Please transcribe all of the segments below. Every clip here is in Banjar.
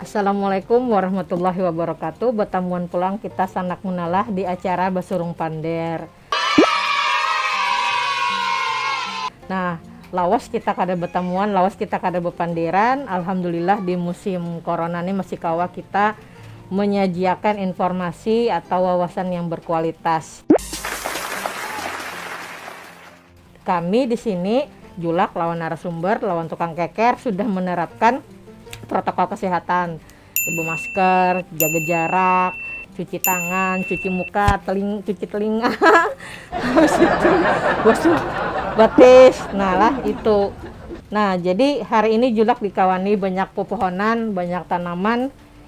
Assalamualaikum warahmatullahi wabarakatuh Batamuan pulang kita sanak munalah di acara Basurung Pander Nah lawas kita kada batamuan, lawas kita kada bapanderan Alhamdulillah di musim Corona ni masih kawa kita manyajiakan informasi atau wawasan yang berkualitas. Kami di sini, Julak lawan narasumber lawan tukang keker sudah menerapkan protokol kesehatan, ibu masker, jaga jarak, cuci tangan, cuci muka, teling cuci telinga, habis itu basuh batis, nah lah itu. Nah, jadi hari ini Julak dikawani banyak pepohonan, banyak tanaman.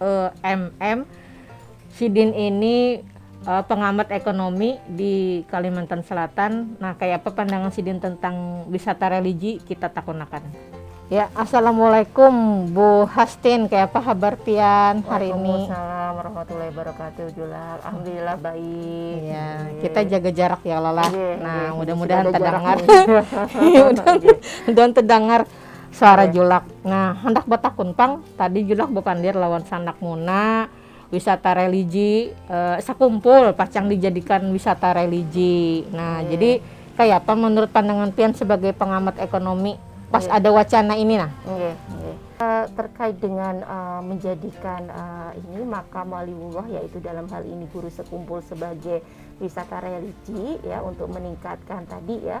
emm sidin ini pengamat ekonomi di kalimantan selatan nah kaya apa pandangan sidin tentang wisata religi kita takun akan. Ya, assalamualaikum Bu Hastin, kaya apa habar pian hari ini? Waalaikumsalam warahmatullahi wabarakatuh Julak, alhamdulillah baik. Iya, kita jaga jarak ya Lola. Nah, mudah-mudahan terdengar. Mudah-mudahan terdengar. Suara Julak, nah handak batakun pang, tadi Julak bapandir lawan Sanak Muna, wisata religi sakumpul pacang dijadikan wisata religi, nah jadi kayapa manurut pandangan pian sebagai pengamat ekonomi pas ada wacana ini nah? Terkait dengan menjadikan ini makam waliullah yaitu dalam hal ini guru sekumpul sebagai wisata religi ya untuk meningkatkan tadi ya,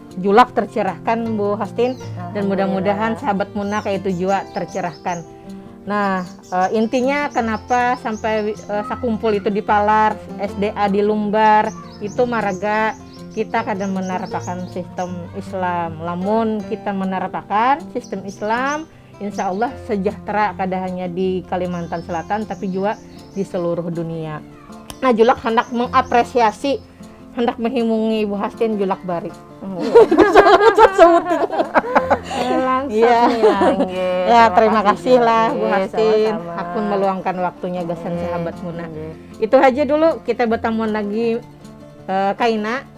Julak tercerahkan Bu Hostin dan mudah-mudahan sahabat Muna kayak itu juga tercerahkan. Nah, e, intinya kenapa sampai e, sakumpul itu di Palar, SDA di Lumbar, itu maraga kita kada menerapakan sistem Islam. Lamun kita menerapakan sistem Islam, Insya Allah sejahtera kada hanya di Kalimantan Selatan tapi jua di seluruh dunia. Nah Julak handak mengapresiasi handak menghimungi Ibu Hastin Julak Bari. Iya. Ya, terima kasih lah Bu Hastin. Aku meluangkan waktunya gasan sahabat Muna. Itu aja dulu kita bertemu lagi uh, Kaina.